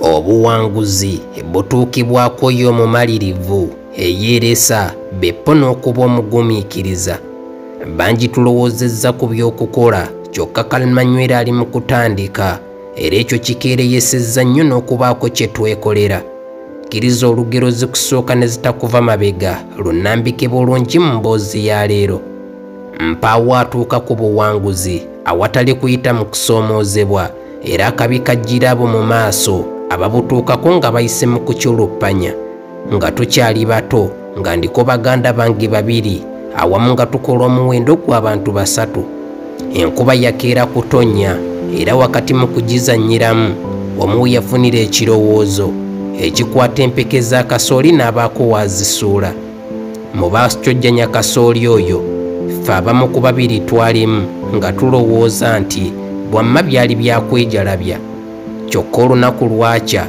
obuwanguzi butuukibwako yo omumalirivu eyeeresa beppo n'okuba omugumiikiriza bangi tulowoozezza ku by'okukola kyokka kalmanywera ali mu kutandika era ekyo kikeereyesezza nnyo n'okubaako kye twekolera kkiriza olugero zikusooka ne zitakuva mabega lunambike bulungi mu mboozi ya leero mpaawo atuuka ku buwanguzi awatali kuyita mu kusoomoozebwa era akabi kajjira abo mu maaso ababutuukako nga bayise mu kukyuluppanya nga tukyali bato nga ndiko baganda bange babiri awamu nga tukola omuwendo gw'abantu basatu enkuba yakeera kutonnya era wakati mu kugizannyiramu omu yafunira ekirowoozo ekikwata empeke za kasooli n'abaako waazisuula mu baascojjanya kasooli oyo ffe abamu ku babiri twalimu nga tulowooza nti bwamma byali byakwejalabya kyokka olunaku lwakya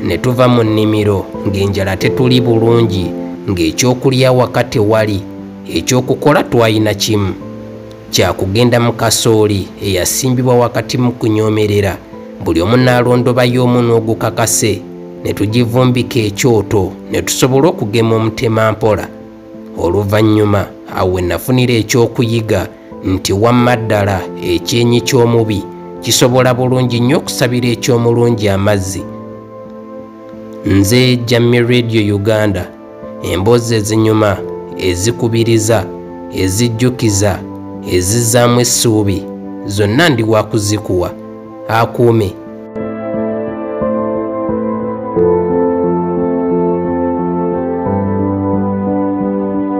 ne tuva mu nnimiro ng'enjala tetuli bulungi ng'ekyokulya wakati wali ekyokukola twalina kimu kya kugenda mu kasooli eyasimbibwa wakati mu kunyoomerera buli omu n'alondobayo omunwa ogukakase ne tugivumbika ekyoto ne tusobola okugema omutema mpola oluvannyuma awo we nafunira ekyokuyiga nti wamma ddala ekyenyi ky'omubi kisobola bulungi nnyo okusabira eky'omulungi amazzi nze jammi radio uganda emboozi ezinyuma ezikubiriza ezijjukiza ezizzaamu essuubi zonna ndi wakuzikuwa akuume